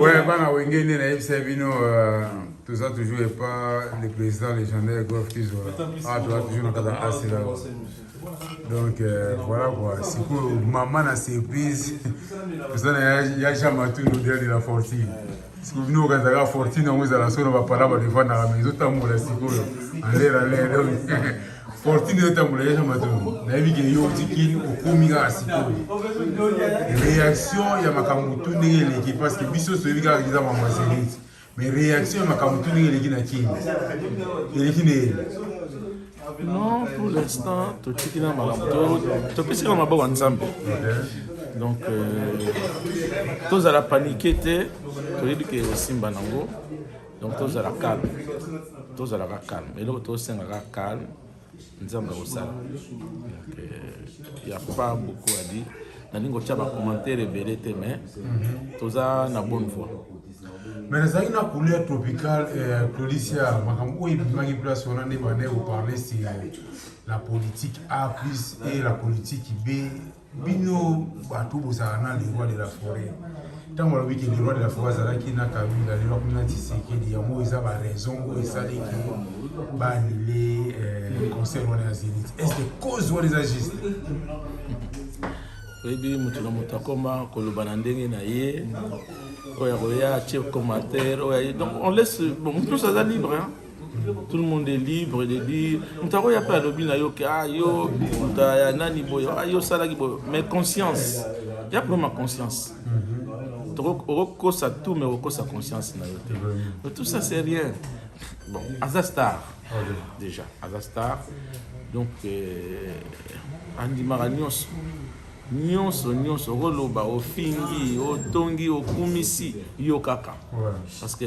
Ouais, bana wenge nde nayebisa bino euh, toza toujours epa le président légendaire golf kizo a ah, toza toujours na kata asila donc euh, voilà quoi sikoyo mama na surprise toza na ya jean matunu dele de la fortune sikoyo bino okanzaka fortune yango ezala so na bapala balefandaka mais ezotambola sikoyo alera lere Fortune etambola ya Matongo nayebi ke yo oti kin okomi kaka sikoyo reaction ya makambo tu ndenge eleki parce que biso toyebi kaka kiza mama zenit mais reaction ya makambo tu ndenge eleki na kin eleki na ele non pour l'instant totiki na makambo topesi kaka maboko ya nzambe donc euh, tozala panike te toyebi ke osimba nango donc tozala calme tozalaka calme eloko tosengaka calme nzambe akosala euh, ya pas beaucoup adi nalingi kotya bacommentaire ebele te mais mhm. toza na bonne voie mais nazalaki na couleur tropicale euh, clodicia makambo oyo ebimaki place wana nde bande koparle sur la politique a plus et la politique b bino bato bozala na le roi de la forêt ntango alobi ke le roi de la forêt azalaki na kabila lelo akomi na tisekedi yango eza baraison oyo esali ke baanile euh, concert wana ya zenit est ce que cause wana eza juste oyebi moto na moto akoma koloba na ndenge na ye oyo akoya atie commentaire oyo donc on laisse bon moto nyonso aza libre hein? tout le monde est libre de dire moto yango ya mpe alobi na yo ke a ah, yo moto ya nani boye a ah, yo osalaki boye mais conscience ya problème ya conscience okokosa tout mais okokosa conscience na yo te mais tout ça c'est rien bon aza star déjà aza star donc euh, andimaka nyonso nyonso nyonso okoloba ofingi otongi okumisi yo kaka parce que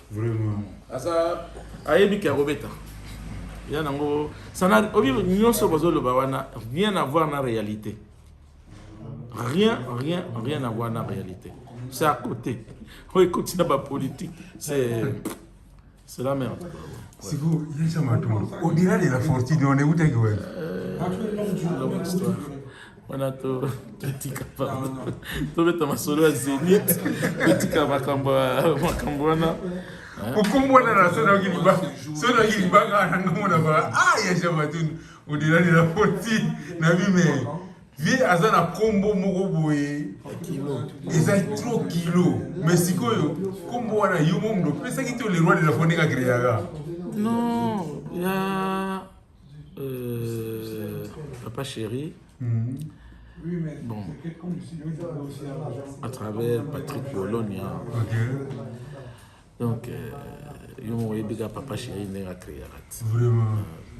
vraiment aza ayebi ke akobeta ya nango sana obi nyonso bozoloba wana rien à voir na réalité rien rien rien à voir na réalité c'est à côté oyo ekoti na bapolitique c'est c'est la merde siko yesa matombo odira de la fortune on ewutaki wapi wana totika pardon tobeta masolo ya zenit totika makambo makambo wana kokombwana na so nayoki libanga so nayoki libanga na ngambo na bala a ah, ya jamatuni odelani na poti na bime vie aza na nkombo moko boye eza tro kilo mais sikoyo nkombo wana yo momundo opesaki to leroi de la fondeka kreyaka non ya Euh, papa chéri, mm -hmm. bon, à travers Patrick Bologna, okay. donc, euh, yo moko oyebika papa chéri ndenge akreaka ti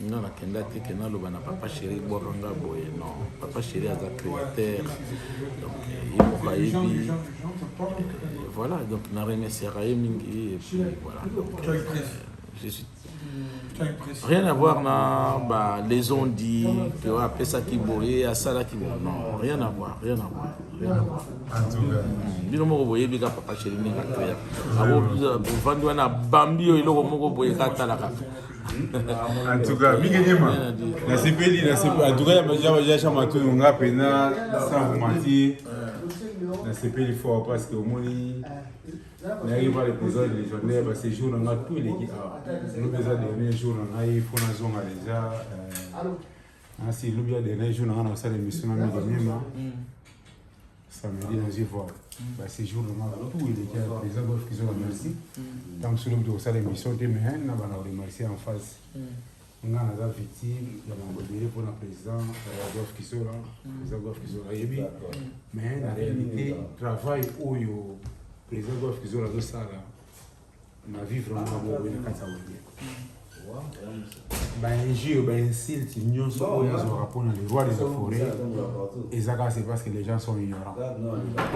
nga nakenda te ke naloba na papa chéri bwaka nga boye non papa chéri aza créateur donc ye moko ayebi voilà donc na remerciaka ye mingi et puis voilà donc, euh, je suis rien à voir na ba les ont dit que wa pesa ki boye asala ki bon non rien à voir rien à voir rien à voir bino moko boye bika papa chéri ni ka toya abo bovandi wana bambi yo eloko moko boye ka tala kaka en tout cas mingi nyema nasepeli nasepeli en tout cas ya chama tu nga pena sans vous mentir nasepeli fort parce que omoni nayaki mpale koza legendaire ya basejour na ngai tout eleki awa lobi eza dernier jour na ngai mpo nazonga deja euh, nasi lobi ya dernier jour na ngai nakosala émission na midi mema mm. samedi nazwi voir mm. basejour na ngai tout eleki awa eza bofikizola merci ntango mm. soki lobi tokosala émission te mais nabanda koremercie en face Nga naza victime ya mambo ebele mpo na président euh, Adolphe Kisola président Adolphe Kisola ayebi mais na réalité travail oyo président Adolphe Kisola azosala na vivre yango boye na kati ya wenge bainjure bainsulte nyonso oyo azwaka mpo na le roi des forêt eza kaka c'est parce que les gens sont ignorants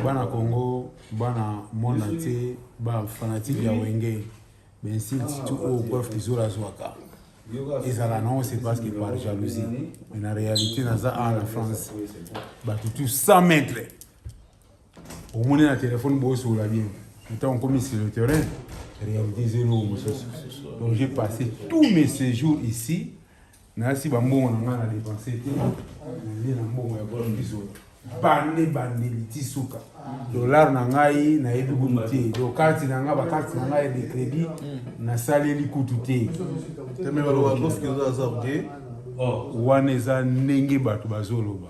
bana congo bana monde entier bafanatique ya wenge Ba insultes tout oyo Golf Kizola azwaka ezala nango c'est parce que par jalousie mais na réalité naza awa na France bato tout 100 mètres omoni na telefone bosola bien ntango okomi sur le terrain réalité eza eloko mosusu donc j'ai passé tous mes séjours ici Nayasi ba mbongo na ngai na depense te. Nalie na mbongo ya bolo bizola. Bande bandeli ti suka. Dollar na ngai nayebi kutu te. Donc carte na ngai ba carte na ngai de credit nasaleli kutu te. Wana eza ndenge bato bazoloba.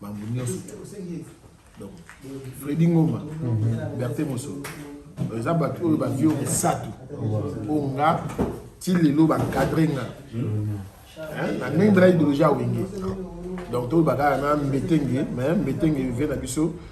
bango nyonso donc fredi ngoma mhm. berte mosolo eza bato oyo bavio misato mpo nga ti lelo bacadre nga na ndenge mpela ideologie ya wenge donc toyebaka na mbetenge mais mbetenge vie na biso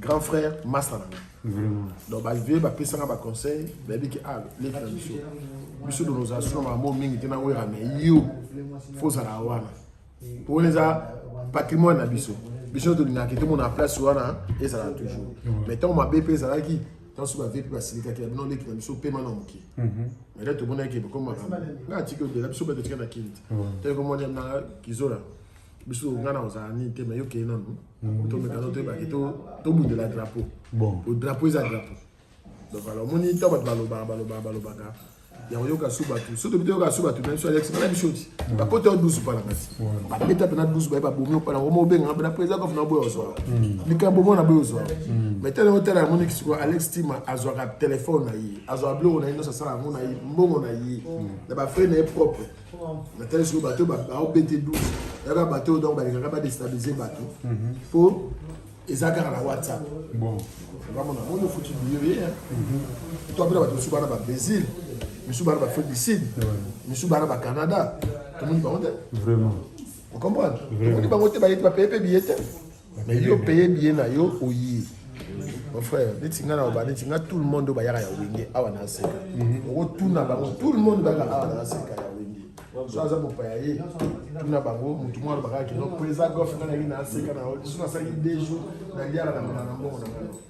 grand frère masta na nga donc bavie bapesanga baconseil bayebi ke a leki na biso biso do nos asio na bango mingi te na wera me yo fo ozala wana po wana eza patrimoine na biso biso tolingaka te mona place wana ezala toujours mais ntango mabe mpe ezalaki ntango soki bavie mpe basilikaki na bino leki na biso pema na moke mele tomonaki bokoma makambo nga atiki odela biso batotika na kinti ntango komona na kizola biso nga na ozala nini te mais yo kei nanu mm. tomekano toyebaki tobundela drapeau bon drapeau eza drapeau donc alors omoni ntango bato balobaka balobaka balobaka ya koyoka su bato soki tobi toyoka su bato meme so alex bana biso ti bakota yo dusu mpana kasi babeta mpena dusu baye babomi mpana ngoma obenga mpena président kafuna oboya ozwaka likambo mona boye ozwaka mai tala otala yamoniki sikoyo alex tima azwaka telefone na ye azwaka biloko na ye nyonso asala yango na ye mbongo na ye na bafrai na ye propre natali soki bato baobete 12 yaka bato oyo donc balingaka badestabilize bato mpo mhm. eza kaka na whatsapp bamona moni ofuti biyo ye to apena bato mosusu bana ba brésil misusu bana ba afrique du sud misusu bana ba canada tomoni bango te vraiment okomprendre tomoni bango te bayete bapaye mpe biye te mais yo paye billet na yo oye mon frère neti nga na oba neti nga tout le monde oyo bayaka ya wenge awa na aseka mhm. okotuna bango tout le monde bayaka awa na aseka ya wenge so aza mopaya ye tuna bango motu moko alobaka kino mpo eza gof nga nayaki na aseka na lisusu nasalaki deux jours na liaka na mbongo na mbongo na ngai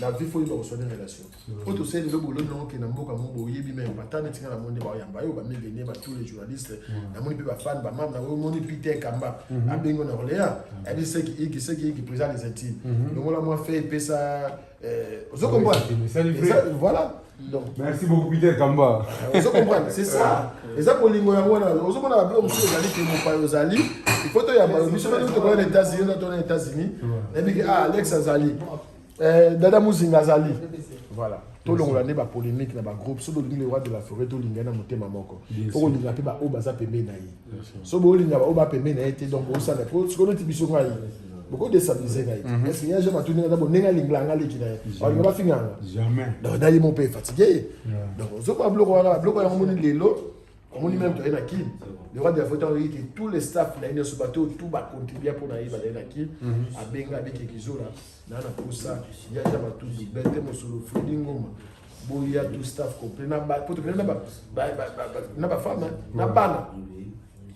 la vie faut yeba koswani relation oyo tosali lelo boloni nango ke na mboka moko boyebi meme bata neti nga namoni nde baoyamba yo bamilene ba tous les journalistes namoni mpe bafane bamame na omoni peter kamba abengo na orléans abi seki iki seki iki président des intimes longola mwa fe epesa ozo comprendre voilà Donc, merci beaucoup Peter Kamba. Vous euh, comprenez, c'est ça. Et ça pour lingo yango na ozo mona ba blo musu ezali ke mopa ozali. Il faut to ya ba musu ba to ko na États-Unis na to na États-Unis. Et puis ah Alex azali. Euh Dada Muzinga azali. Voilà. To longola nde ba polémique na ba groupe solo lingo le roi de la forêt to linga na motema moko. Pour linga pe ba o baza pembe na ye. so bolinga baoyo bapembe na ye te donc bosala po sikoyo neti biso ngai bokodestabilize ngai te parce que ya jean matuni ata bonenge alingla yanga leki na ye balinga bafinganga donc naye mo mpe fatigue ye donc ozokoya biloko wana biloko yango moni lelo omoni meme toye na kin le roi de la faute oyoki tous les staff na ye nyonso bato oyo tout bacontribua mpo na ye bazali na kin abenga abiki kizola na na posa jaja matutu bete mosolo fredi ngoma boya tout staff complet na ba poto na ba na ba femme na bana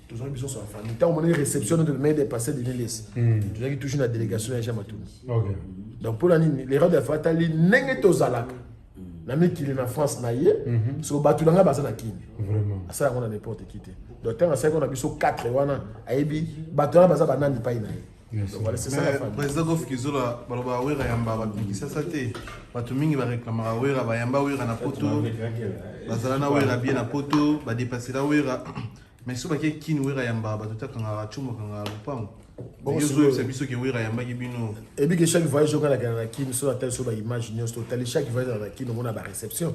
tozali biso so famille ntango monaki réception notre maire de passé de lelesi tozalaki toujours na délégation ya jean matuni donc mpo na nini l'erreur de fa atali ndenge tozalaka na mikili na france na ye mhm. so bato na ngai baza na kini asala yango na n'importe qui te donc ntango asalaki na biso 4 wana ayebi bato wana baza banani epai na ye président gof kizola baloba wera yamba bato na kisasa te bato mingi bareklamaka wera bayamba wera na poto bazala na wera bie na poto badepasela wera mais so bake kini wera yamba bato te akangaka cumu akangaka lopango ozoyebisa biso ke wera ayambaki bino ebike chaque voyage oka nakenda na kini so natali so baimage nyonso totali chaque voyage na kini omona baréception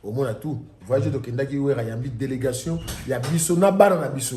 omona tout voyage tokendaki wera yambi délégation ya biso na bana na biso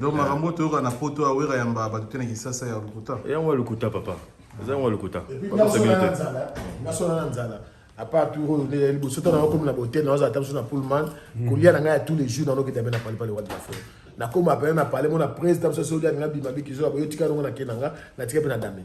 donc makambo toyoka na poto ya wera yamba bato te na kisasa ya lokuta yango ya lokuta papa eza yango ya lokuta nasona na nzala apart tour oyo nde liboso to nakomi na botel naoza ata biso na pullman hmm. kolia na ngai ya tous les jours nanokita mpe na palipali wadi na folo nakoma pene na pale mona presi ta biso soki alinga bima bikizola boyo tika yango na ke na nga natika mpe na dame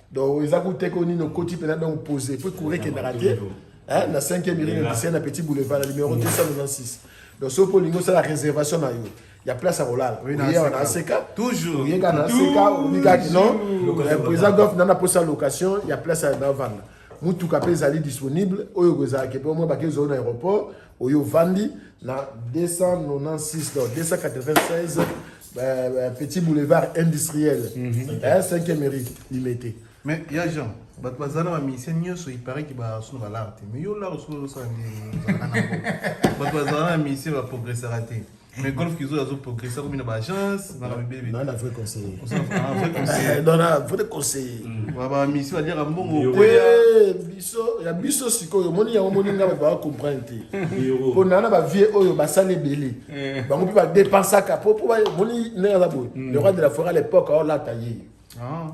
donc eza ku teke nini okoti mpena donc pose po ekure ekendaka te na 5e miringa kisena petit boulevard na numero 296 donc soki olingi osala réservation na yo ya place ya kolala oyewa na aseka oyeka na aseka obikaki non président gof nana mposa location ya place ya navanda motuka mpe ezali disponible oyo kozalaki mpe omoi bake ezali na aéroport oyo ovandi na 296 donc 296 Bah, bah, petit boulevard industriel mm -hmm. eh, 5 mairie limete mais ya jean bato bazala ba musicien nyonso iparaki basuna balare te mais yo lare suna osala bato bazala na musicien baprogressaka te mais golf kizo azo progresser komi na ba agence na ba bebe na vrai conseiller conseiller vrai conseiller na vrai conseiller ba ba misi ba dire mbongo biso ya biso sikoyo omoni yango omoni ngai bato baa comprendre te mpo na na bavie oyo basali ebele eh. bango mpe badepensaka mpo mpo omoni ndenge aza boye hmm. le roi de la forêt à l'époque aolata ye ah.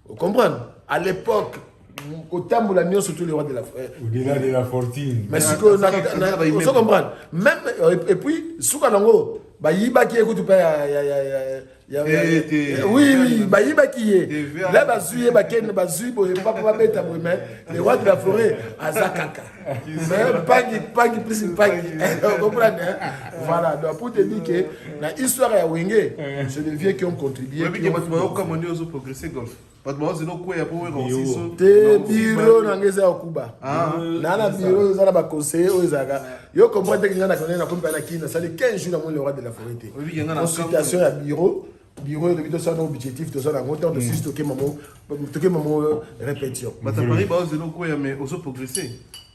ocomprendre à l'époque kotambola nyonso tout le roi de la forêt au-delà de la fortune mais sikoyo ozo comprendre même euh, et puis suka nango bayibaki ye kutu mpe oui bayibaki ye la bazwi ye bakende bazwi boye papa babeta boye me le roi de la forêt aza kaka mpangi mpangi plus mpangi comprendre voilà donc pour te dire que na histoire ya wenge c'est des vieux qui ont contribué bato baozela okweya mpo wera osiso te biro na ngai eza ya kuba ah. na na biro eza na baconseiller oyo ezalaka yo comprendre teke ngai nakonai nakomi mpe na kini nasali 15 jours namoni le roi de la forêt te consultation ya biro biro elobi tosala na objectif toza na yango ntango hmm. tosusi tokema mo tokema mo euh, répétition bato ya paris baozela okweya mais ozo progresser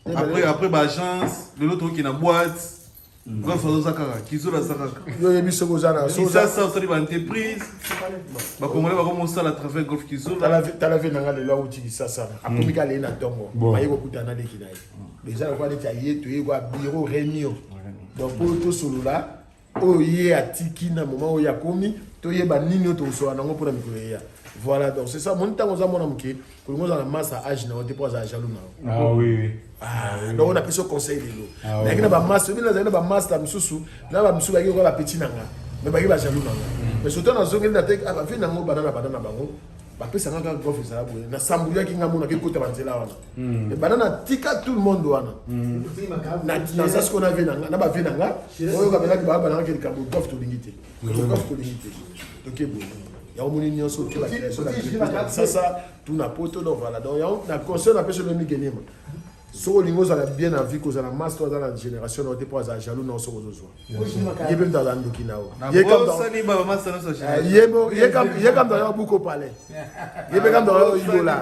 eh, après après baagence lelo tokoki na boite Grâce à Zakara, Kizora Zakara. Yo yebi ce que Zara. Si ça ça ça ba entreprise. Ba congolais ba comme ça la travail golf Kizora. Tala tala ve nanga le loi ou ti ça ça. A comme kale na tongo. Ba yeko kutana de kinaye. Déjà kwa de taye to yeko bureau réunion. Donc pour tout solo là, oyo ye atiki na moment oyo akomi toyeba nini oyo tokosolola nango mpona mikolo eya voilà donc c'est ça moni ntango oza mwana moke olingi ozala masa age na yo te mpo azala jaloux na yo ah ah, donc na pesi conseil lelo ah nayaki na bamasta obi nazali na bamasta mosusu na bamosusu bayaki okola bapeti na nga me bayaki bajaloux na nga mm. mais soto nazongeli na te bavi na yango bana na bana na bango bapesa nga kaka gof ezala boye nasambuyaki nga monaki ekota banzela wana mm. ebanda natika tout le monde wana mm. naza sikoyo na vie na nga na bavie na nga oyo kabelaki baa banangaki likambo gof tolingi te yango moni nyonso ke bacreation na sasa tuna poto no vala donc yango na conseil napesi yo ndenge nikelema soki olingi ozala bien na vie kozala mas to aza na génération nao te mpo azala jaloux nao soki ozozwa ye mpe moto aza ndoki nao ye kamto aza buko palais ye mpe kamto aza oyibola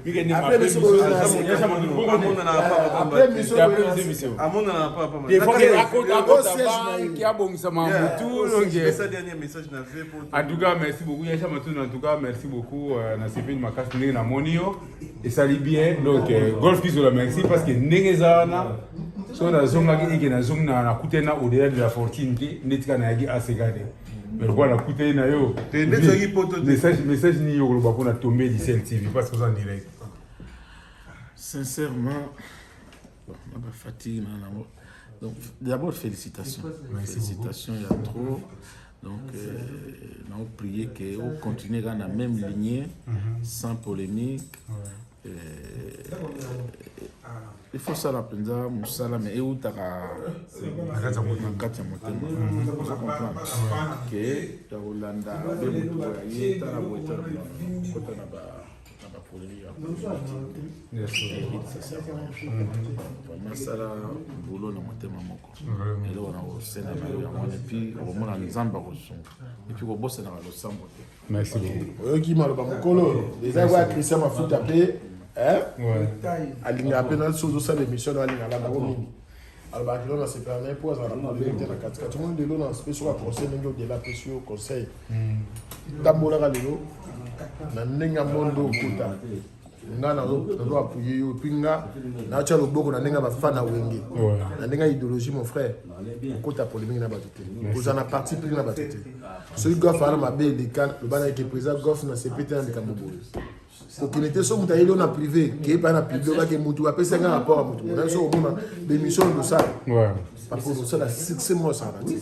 Après mission boye na sika. Après mission boye na sika. amona na papa Il faut que akota akota banki abongisa ma mutu longe. c'est ça dernier message na vie pour En tout cas, merci beaucoup. Yasha Matun, en tout cas, merci beaucoup. Euh, na sepeli makasi ndenge na moni yo. Esali bien. Donc, euh, Golf Kizola, merci parce que ndenge eza wana. So nazongaki eke nazongi na nakutana au-delà de la fortune te ndetika nayaki aseka te. mais lokola nakutani na yo message nini yo koloba mpona tombe edicel tv parce que oza en direct sincèrement na bafati na nango donc d'abord félicitations félicitations ya trop donc euh, naoprier ke ocontinue kaka na même lignée mhm. sans polémique il faut sala mpenza mosala me eutaka na kati ya motema oza comprendre ke ya kolanda be moto ya ye tala boye tala kota na ba na baproduit ya masala bolo na motema moko eloko na kosenda na yo yango epuis okomona nzambe akosunga epuis kobosanaka losambo te Merci beaucoup. Oyoki maloba mokolo eza kwa Christian Mafuta pe hein? Ouais. Alinga pe na sozo sala émission na alinga la bango mingi. alobaka lelo nasepela na ye mpo azalaka na lelo te na katikati omoni lelo na spesi oka conseil ndenge odela apesi yo conseil tambolaka lelo na ndenge ya mondo okota nga nazo appuye yo puis nga natya loboko na ndenge ya bafana wenge na ndenge ya idéologie mon frère okota polémique na bato te kozala na parti pris na bato te soki gof aza na mabe eleka loba na yeke président gof na sepe te na likambo boye kokende te so moto ayeli yo na privé keye pai na publi obake motu apesi yanga rapport ya motu monaye so omona bémission losala bakosala succès moko asala te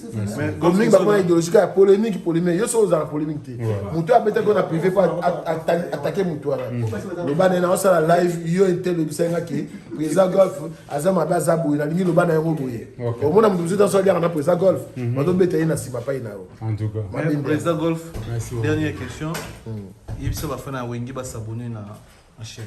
bomingi bakona idéologie ya polémique polémique yo soki ozala polémique te moto abetaki yo na privé po atake moto wana loba na ye naosala live yo ete lobisa nga ke président golf aza mabe aza boye nalingi loba na yango boye omona moto mosusu aso aliaka na président golf bazobeta ye na nsima pai na yo président golf dernière question yebisa bafana ya wenge basabone na chaîne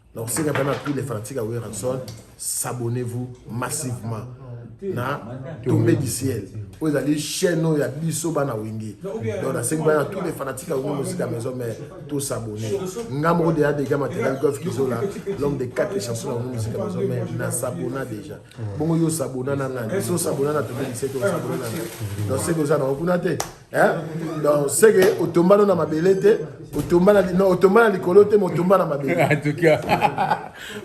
Donc c'est quand même tous les fanatiques à Werrason, s'abonnez-vous massivement. na tombé du ciel oyo ezali chaîne oyo ya biso bana wenge donc nasengi bana tous les fanatiques ya wenge mosika maison mère tosabone nga moko deya dega matériel golf kizola l'homme de quatre chansons ya wenge mosika maison mère nasabona déjà bongo yo sabona na ngai so sabona na tobi liseke osabona na ngai donc seke oza nango kuna te donc seke otomba no na mabele te otomba na likolo te motomba na mabele en tout cas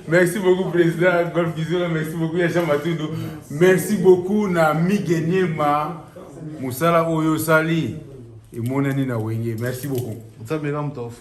merci beaucoup président golf kizola merci beaucoup ya jean matundo merci beaucoup na migeniema mosala oyo osali emonani na wenge merci beaucoup nzambe na motofu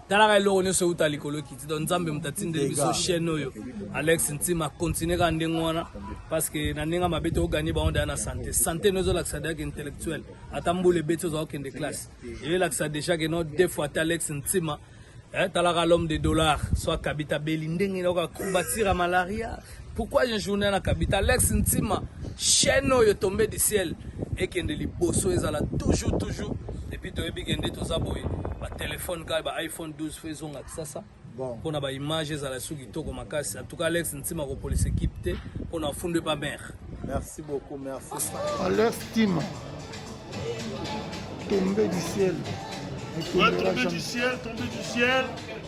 talaka eloko nyonso euta likolo ekiti donc nzambe moto atindeli biso chaîne oyo alex ntima continue kaka ndenge wana parce que na ndenge mabe tokoganye bango daya na sante sante no ezolakisa daya ke intellectuel ata mbula ebeti ozwa kokende classe eyoelakisa déjà ke no deux fois ata alex ntima eh, talaka l'homme de dollar soit kabita beli ndenge nayoka combatira malaria Pourquoi une journée na kabita Alex Ntima chaîne oyo tombe du ciel ekende liboso ezala toujours toujours et puis toyebi kende toza boye ba téléphone kaka ba iPhone 12 faut ezonga kisasa bon pona ba image ezala sous kitoko makasi en tout cas Alex Ntima ko police équipe te pona funde pas mère merci beaucoup merci Alex Ntima tombé du ciel ouais, tombé du ciel tombé du ciel